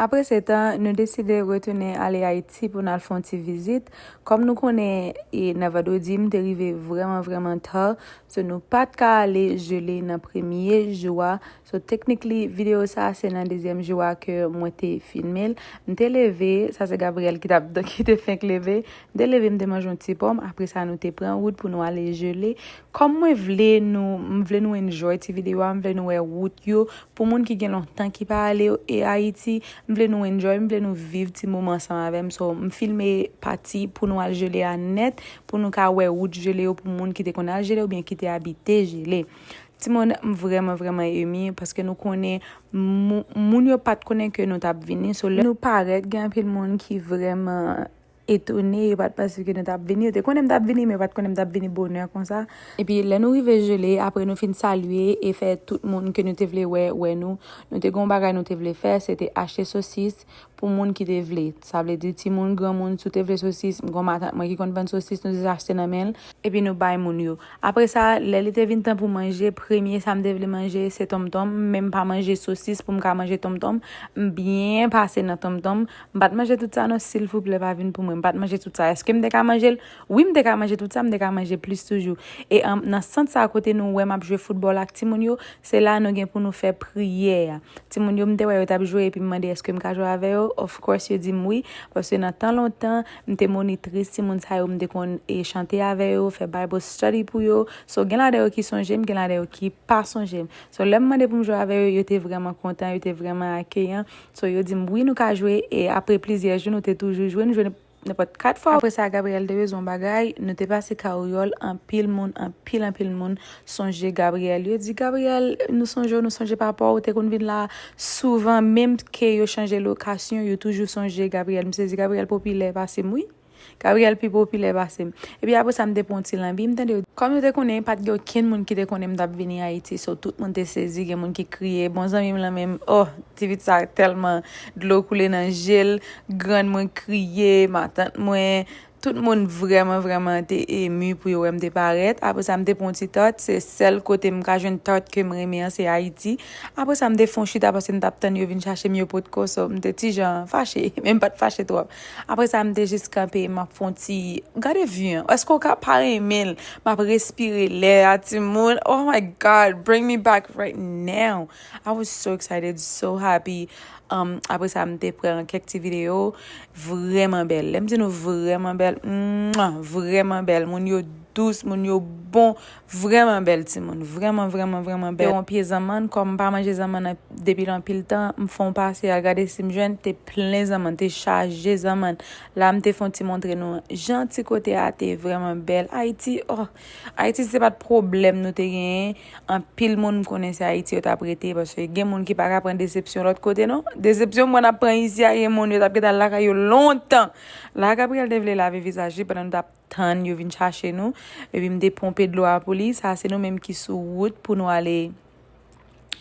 Apre setan, nou deside retounen ale Ayiti pou n al fè yon ti vizit. Kòm nou konnen, e nan vandredi, m te rive vrèman vrèman ta, so nou pa t ka ale jele nan premye jou a. So technically, videyo sa a se nan dezyèm jou a ke mwen te filme l. M te leve, sa se Gabriel ki t ap, ki te fenk leve. M te leve, m te manje yon ti pòm, apre sa nou te pran wout pou nou ale jele. Kòm mwen vle nou, m vle nou enjoy ti videyo a, m vle nou wè wout yo, Pou moun ki gen lontan ki pa ale e Ayiti, m vle nou enjoy, m vle nou viv ti moman ansanm avè m, so m filme pati pou nou al Jele a nèt pou nou ka wè wout Jele yo pou moun ki te konn al Jele oubyen ki te abite Jele. Timoun, m vrèman vrèman emi paske nou konnen moun yo pat konnen ke nou t ap vini, so lè nou parèt gen anpil moun ki vrèman etone, yo pa t panse ke nou t ap vini, yo te konnen m t ap vini, men yo pa t konnen m t ap vini bonè konsa. Epi lè nou rive Gelé, apre nou fin salye e fè tout moun ke nou te vle wè, wè nou, nou te gen yon bagay nou te vle fè, se te achte sosis pou moun ki te vle. Sa vle di timoun, granmoun, si w te vle sosis, m gen yon matant mwen ki konn vann sosis, nou te ka achte nan men l, epi nou bay moun yo, apre sa, lè li te vin tan pou manje, premye sa m te vle manje, se tonmtonm, men m pa manje sosis pou m ka manje tonmtonm, m byen pase nan tonmtonm. M pa t manje tout sa non silvouplè pa vin pou mwen. M pa t manje tout sa. Eske m te ka manje l? Wi m te ka manje tout sa, m te ka manje plis toujou. E nan sant sa kote nou wè m ap jwe foutbòl ak timoun yo, se la nou gen pou nou fè priyè a. Timoun yo m te wè yo t ap jwe epi m mande eske m ka jwe avè yo, of course yo di m wi. Paske nan tan lontan, m te monitris timoun sa yo, m te konn chante avè yo, fè Bible study pou yo. So gen ladan yo ki sonje m, gen ladan yo ki pa sonje m. So lè m mande pou m jwe avè yo, yo te vrèman kontan, yo te vrèman akeyan. So yo di m wi nou ka jwe e apre plizyè jou nou te toujou jwe, nou jwe nenpòt 4 fwa. Apre sa Gabriel te bezwen yon bagay, nou te pase karyòl anpil moun, anpil anpil moun sonje Gabriel. Yo di Gabriel nou sonje w, nou sonje papa w, ou te konn vin la souvan menm ke yo chanje lokasyon yo toujou sonje Gabriel. M sezi Gabriel popilè pase m wi. Gabriel pi popilè pase m. Epi apre sa m te pran yon ti lanbi, m tande yo. Kòm yo te konnen pa t gen okenn moun ki te konnen m t ap vini Ayiti, so tout moun te sezi, gen moun ki kriye. Bon zanmi m lan menm, oh! Ti pit sa tèlman dlo koule nan je l, grann mwen kriye, matant mwen, tout moun vrèman vrèman te emu pou yo wè m te parèt. Apre sa m te pran yon ti tòt, se sèl kote m ka jwenn tòt ke m renmen an se Ayiti. Apre sa m te fè yon chita paske m t ap tann yo vin chache m yo potko, so m te ti jan fache, men m pa t fache twòp. Apre sa m te jis kanpe map fon ti gade vue an eske ou ka pa renmen l map respire lè a timoun oh my god bring me back right now I was so excited so happy um, apre sa m te pran kèk ti video vreman bèl lè m di nou vreman bèl mwah, vreman bèl moun yo dous moun yo bon Vrèman bèl timoun, vrèman vrèman vrèman bèl. Te yon pye zanmann, kòm m pa manje zanmann depi l anpil tan, m fè yon pase al gade si m jwenn, te plen zanmann, te chaje zanmann. La m te fè yon ti montre nou jan ti kote a te vrèman bèl. Ayiti oh! Ayiti si se pa t pwoblèm nou te genyen, anpil moun m konnen se Ayiti yo t ap rete paske gen moun ki pa ka pran desepsyon lòt kote non. Desepsyon m wè n ap pran isi a, gen moun yo t ap gen tan lakay yo lontan. La Gabriel te vle lave vizaj li pandan nou t ap. tann yo vin chache nou, epi m te ponpe dlo a pou li, sa a se nou menm ki sou wout pou nou ale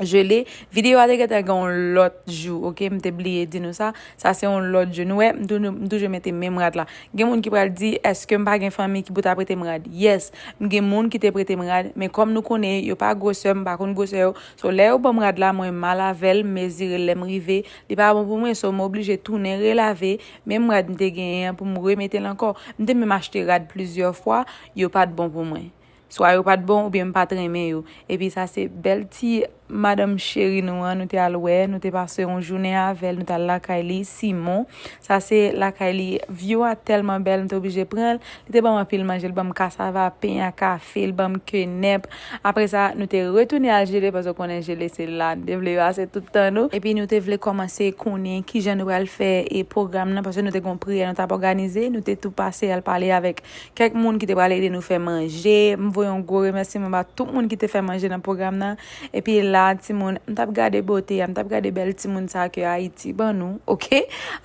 Gelée, videyo a te gentan gen yon lòt jou ok, m te bliye di nou sa, sa se yon lòt jou, nou wè m toujou mete menm rad la, gen moun ki pral di èske m pa gen fanmi ki pou ta prete m rad, yes m gen moun ki te prete m rad, men kòm nou konnen yo pa gwosè m pa konn gwosè yo, so lè yo ban m rad la mwen mal avè l m mezire l lè m rive li pa bon pou mwen so m oblije tounen relave. Menm rad m te genyen an pou m remete l ankò. M te menm achte rad plizyè fwa, yo pa t bon pou mwen. Swa yo pa t bon oubyen m pa t renmen yo. Epi sa se bèl ti madanm cheri nou an nou te al wè, nou te pase yon jounen avè l, nou t al lakay li, Simon. Sa se lakay li, view a tèlman bèl m te oblije pran l. Li te ban m anpil manje. Li ban m kasava, pen a kafe, li ban m kenèp. Apre sa, nou te retounen al Jele paske w konnen Jele se la nou te vle pase tout tan nou. Epi nou te vle kòmanse konnen ki jan nou pral fè pwogram nan paske nou te gen yon priyè nou t ap òganize. Nou te tou pase al pale avèk kèk moun ki te pral ede nou fè manje. M voye yon gwo remèsiman ba tout moun ki te fè manje nan pwogram nan. Epi la timoun, m tap gade bote a, m tap gade bèl timoun sa ke Ayiti ban nou, ok?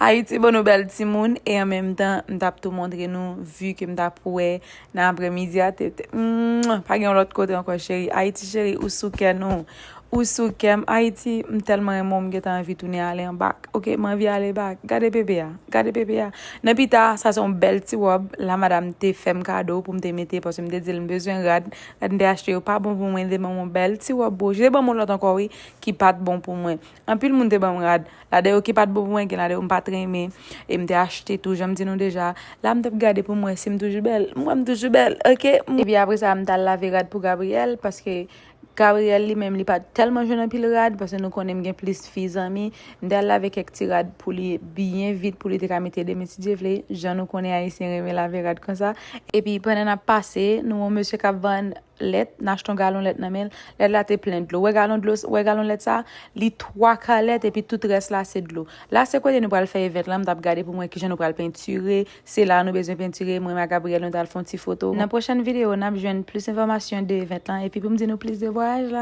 Ayiti ban nou bèl timoun, e an menm tan, m tap tou montre nou vi ke m tap wè nan apremidi a, tete. Mwah! Pa gen yon lòt kote ankò cheri. Ayiti cheri, ou sou kè nou. Ou sou kè m. Ayiti, m tèlman renmen w, m gentan anvi tounen ale an bak, ok? M anvi ale bak. Gade bebe a. Gade bebe a. Nan pita, sa se yon bèl ti wòb, la madam te fè m kado pou m te mete, paske m te di l m bezwen rad, Mph yo pa bon pou mwen li te banm yon bèl ti wòb bouj li te banm yon lòt ankò wi ki pat bon pou mwen anpil moun te banm rad la de yo ki pat bon pou mwen gen la de yo mpat renmen e mte achte tou janm di nou deja la mtap gade poum wè sim toujou bèl m wèm toujou bèl ok epi apre sa mtal lave rad pou Gabriel paske Gabriel li menm li pat tèlman jwenn anpil rad paske nou konnen mgen plis fi zanmi M te al lave kèk ti rad pou li byen vit pou li te ka mete demen si Dye vle, jan nou konnen Ayisyen renmen lave rad konsa. Epi pandan n ap pase, nou wè yon mesye k ap vann lèt, n achte yon galon lèt nan men l, lèt la te plen dlo. Wè galon dlo, wè galon lèt sa a? Li twa ka lèt epi tout rès la se dlo. La se kote nou pral fè event lan, m t ap gade pou m wè kijan nou pral pentire, se la a nou bezwen pentire, mwen m ak Gabriel nou t al fè yon ti foto. Nan pwochèn videyo n ap jwenn plis enfòmasyon de event lan epi pou m di nou plis de vwayaj la.